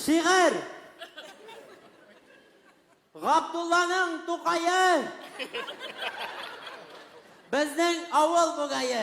Шигырь! Габдулланың Тукае! Безнең авыл бугае!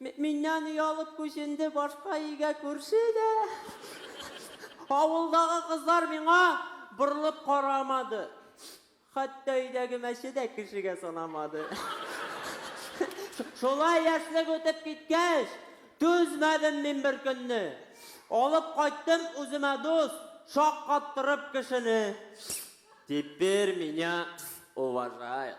Миннән оялып күченде башка өйгә күрше дә. Авылдагы кызлар миңа борылып карамады. Хәтта өйдәге мәче дә кешегә санамады. Шулай яшьлек үтеп киткәч, түзмәдем мин бер көнне. Алып кайттым үземә дус, шаккаттырып кешене. Теперь меня уважают.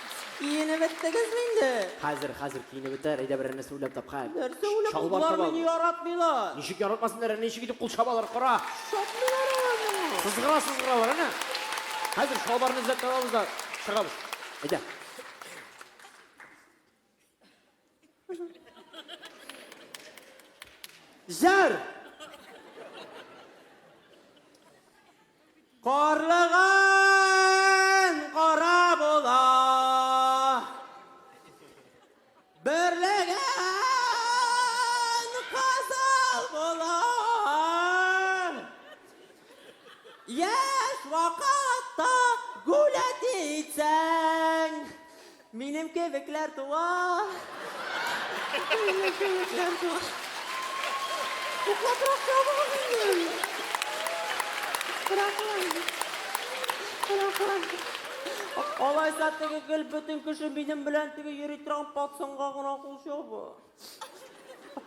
Киенеп беттегезме инде? Хәзер, хәзер киенеп бетәр. Әйдә берәр нәрсә уйлап тап, хәл. Нәрсә уйлап? Чалбар Болар мине яратмыйлар. Ничек яратмасыннар, әнә ничек итеп кул чабалар, кара. Чапмыйлар алар. Сызгыра, сызгыралар, әнә. Хәзер чалбарны эзләп табабыз да чыгабыз. Әйдә. Җыр! Карлыган кара була. Берлеген кызыл була. Яшь вакытта гулять итсәң, Минем кебекләр туа! Минем кебекләр туа! Туклатрак чабыгыз инде! Рәхмәт! Рәхмәт! Алайса теге гел бөтен кеше минем белән теге йөри торган пацанга гына кул чаба.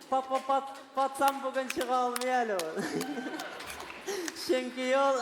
Пат-пат-пат, пацан бүген чыга алмый әле ул. Чөнки ул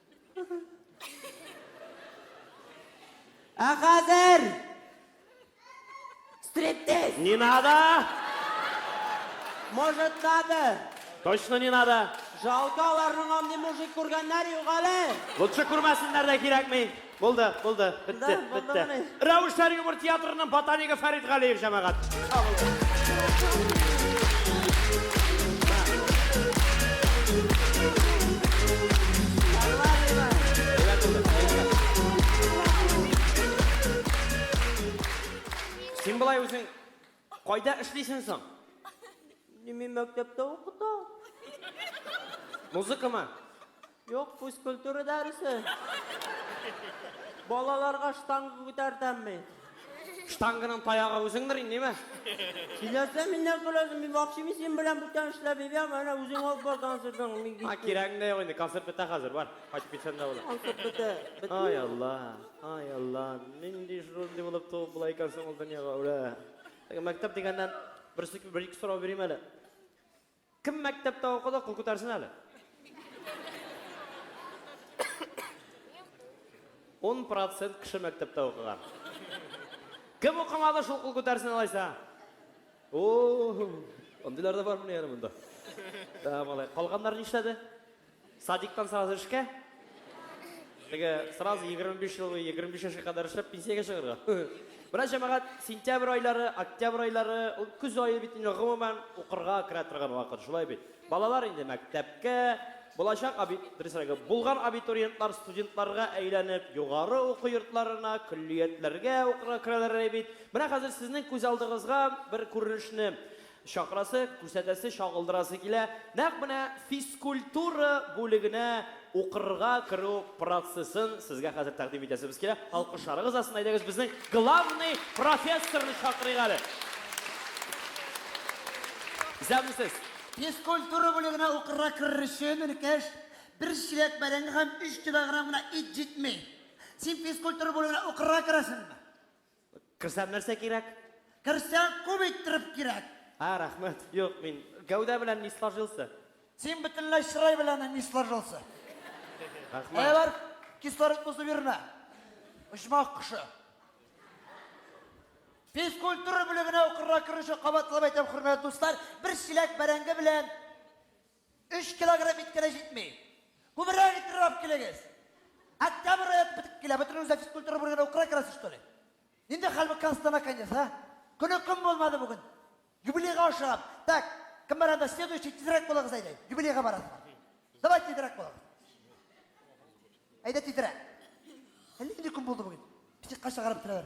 Ә хәзер! Стриптиз! Не надо! Может, надо? Точно не надо! Жалко, аларның андый мужик күргәннәр юк әле! Лучше күрмәсеннәр дә кирәкми! Булды, булды, бетте, бетте. Рәвешләр юмор театрының ботанигы Фәрит Галиев җәмәгать. Син болай үзең Кайда эшлисең соң? Мин мәктәптә укыта. Музыкамы? Юк, физкультура дәресе. Балаларга штанга күтәртәм мин. Штанганың таягы үзеңдер инде, ниме? Сөйләсә миннән сорасың, мин вакчими син белән бүтән эшләп йөрәм, әнә үзең алып бар концертың, мин кит. А, кирәгең дә юк инде, концерт бетә хәзер, бар, кайтып китсәң дә була. Концерт бетә. Ай, Алла. Ай Алла, нинди шундый булып туып була икән соң ул дөньяга үлә. Мәктәп дигәннән бер сик бер ике сорау бирим әле. Кем мәктәптә укыды, кул күтәрсен әле. 10 процент кеше мәктәптә укыган. Кем укымады, шул кул күтәрсен алайса. О, андыйлар да бармы әле монда? Тәмалай. Калганнар нишләде? Садиктан сразу эшкә? Теге сразу 25 ел буе 25 яшькә кадәр эшләп пенсиягә чыгарга. Менә җәмәгать, сентябрь айлары, октябрь айлары, ул көз ае бит инде гомумән укырга керә торган вакыт, шулай бит. Балалар инде мәктәпкә, булачак аби, дөресрәге, булган абитуриентлар студентларга әйләнеп, югары уку йортларына, көллиятләргә укырга керәләр әле бит. Менә хәзер сезнең күз алдыгызга бер күренешне Чакрасы, күрсәтәсе, чагылдырасы килә, нәкъ менә физкультура бүлегенә укырга керү процессын сезгә хәзер тәкъдим итәсебез килә. Алкышларыгыз астында әйдәгез безнең главный профессорны чакырыйк әле. Исәнмесез! Физкультура бүлегенә укырга керер өчен, энекәш, бер чиләк бәрәңге һәм өч килограмм гына ит җитми. Син физкультура бүлегенә укырга керәсеңме? Керсәм нәрсә кирәк? Керсәң күп иттереп кирәк. А, рәхмәт. Юк, мин гәүдә белән не сложился. Син бөтенләй чырай белән не сложился. Рәхмәт. Әйе бар, кислород бозып йөрмә. Очмак кошы. Физкультура бүлегенә укырга керү өчен кабатлап әйтәм, хөрмәтле дуслар, бер чиләк бәрәңге белән Өч килограмм ит кенә җитми. Күбрәк ит рырап килегез. Октябрь райоты бетеп килә. Бөтен үзә физкультура бүлегенә украй керәсе, что ли? Нинди хәл бу Констана конец, а? Көне көн булмады бүген. Юбилейга ашыгам. Так, кем бар анда? Следующий тизрәк булыгыз әйдә. Юбилейга барасыз. Давай тизрәк булыгыз. Әйдә тизрәк. Әллә нинди көн булды бүген. Психка чыгарып торалар.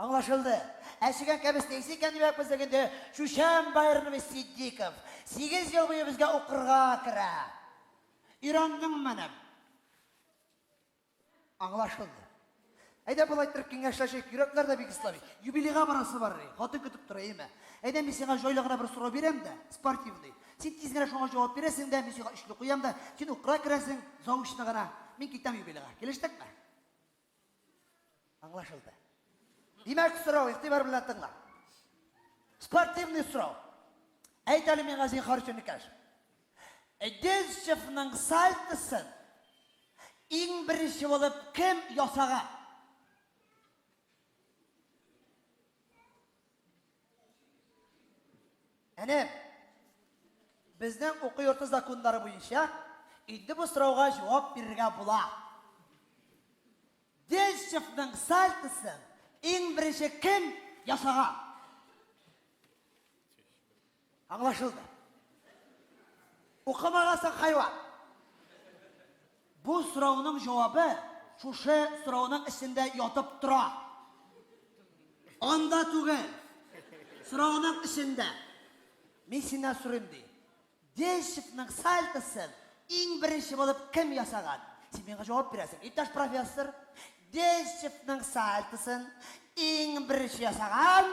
Аңлашылды. Ә чегән кәбес нейсы икән димәк булсак инде, Чучәм Байрнвый Ситдиков сигез ел буе безгә укырга керә. Өйрәндеңмени? Аңлашылды. Әйдә болай иттереп киңәшләшик, йөрәкләр дә бик ислави. Юбилейга барасы бар, хатын көтеп тора, әйеме? Әйдә мин сиңа җайлы гына бер сорау бирәм дә, спортивный. Син тиз генә шуңа җавап бирәсең дә, мин сиңа өчле куям да, син укырга керәсең, заочно гына, мин китәм юбилейга. Килештекме? Аңлашылды. Димәк, сорау, игътибар белән тыңла. Спортивный сорау. Әйт әле миңа зинхар өчен икәш. Дельщевның сальтысын иң беренче булып кем ясаган? Әнә, безнең уку йорты законнары буенча инде бу сорауга җавап бирергә була. Дельщикның сальтосын иң беренче кем ясаган? Аңлашылды. Укымагансың хайван. Бу сорауның җавабы шушы сорауның эчендә ятып тора. Анда түгел. Сорауның эчендә. Мин синнән сорыйм, ди. Денщикның сальтосын иң беренче булып кем ясаган? Син миңа җавап бирәсең, иптәш профессор. Денщикның сальтосын иң беренче ясаган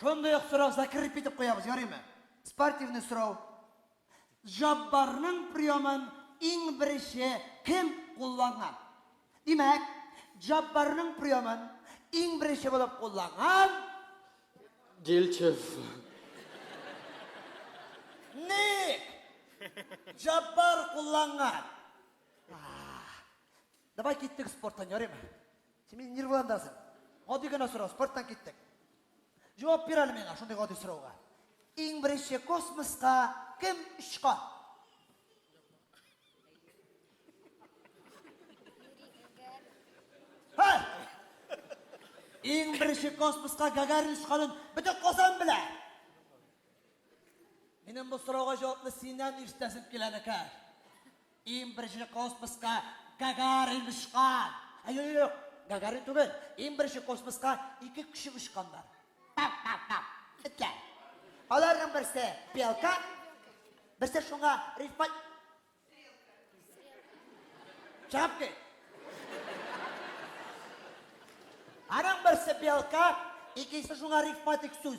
Шундый ук сорау закреп итеп куябыз, ярыймы? Спортивный сорау. Җаббарның приемын иң беренче кем кулланган? Димәк, Җаббарның приемын иң беренче булып кулланган Дилчев. Ник? Җаббар кулланган. Давай киттек спорттан, ярыймы? Син мине нервыландырасың. Гади генә сорау, спорттан киттек. Җавап бир әле миңа шундый гади сорауга. Иң беренче космоска кем очкан? Ха! Иң беренче космоска Гагарин очканын бөтен Казан белә. Минем бу сорауга җавапны синнән ишетәсем килә, Нәкәр. Иң беренче космоска Гагарин очкан. Ә юк, юк, Гагарин түгел. Иң беренче космоска ике кеше очканнар. Пап, пап, пап. Этләр. Аларның берсе белка, берсе шуңа рифмат. Чыгып кит. Аның берсе белка, икенчесе шуңа рифматик сүз.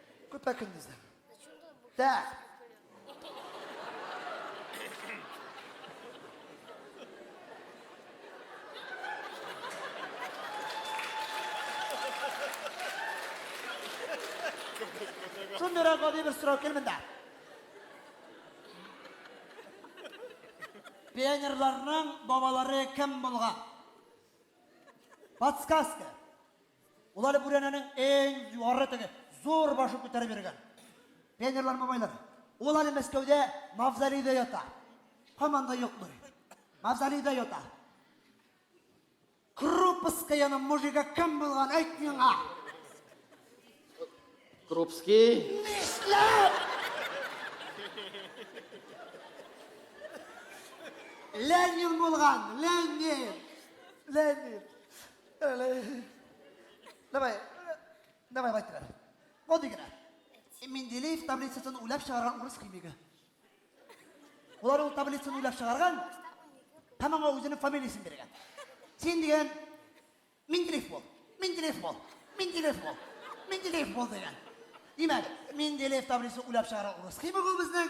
Көпә көндезләр. Дә. Шундыйрак гади бер сорау килмин дә. Пионерларның бабалары кем булган? Подсказка. Ул әле бүрәнәнең иң югары теге зур башын күтәреп йөргән. Пионерлар бабайлар. Ул әле Мәскәүдә мавзолейда ята. Һаман да юкмы? Мавзолейда ята. Крупскаяның мужигы кем булган әйт миңа? Крупский. Нишләп? Ленин булган, Ленин. Ленин. Давай, давай, байтырар. Мондый генә. Менделеев таблицасын уйлап чыгарган урыс химигы. Улар ул таблицаны уйлап чыгарган, һәм аңа үзенең фамилиясен биргән. Син дигән Менделеев бул, Менделеев бул, Менделеев бул, Менделеев бул дигән. Димәк, Менделеев таблицасын уйлап чыгарган урыс химигы безнең.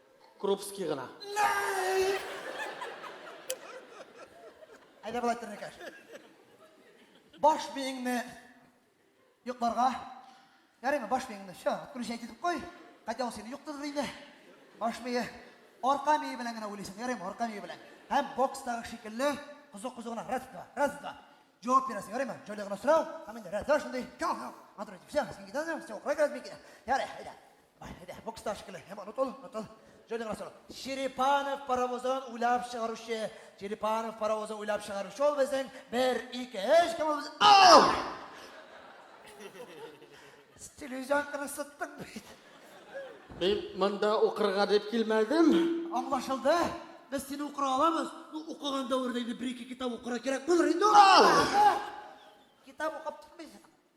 Крупский гына. Әйдә болай тернекәш. Баш биеңне йокларга. Ярыймы баш биеңне? Все, откручай дидеп кой. Кайтя ул сине йоктырыр инде. Баш бие арка бие белән генә уйлыйсың. Ярыймы арка бие белән. Һәм бокстагы шикелле кызу-кызу гына раз два, раз два. Җавап бирәсең, ярыймы? Җайлы гына сорау. Һәм инде раз два шундый. Кам, кам. Матур итеп. Все, син китәсең. Все, укырга керәсең, мин китәм. Ярый, әйдә. Әйдә, бокста шикелле. Һәм онытыл, онытыл. Җойдың расылы. Черепанов паровозын уйлап чыгаручы. Черепанов паровозын уйлап чыгаручы ул безнең 1 2 3 кем ул? Ау! Телевизион кына сыттың бит. Мин монда укырга дип килмәдем. Аңлашылды. Без сине укыра аламыз. Ну, укыган дәвердә инде бер-ике китап укырга кирәк булыр инде. Китап укып тормыйсың.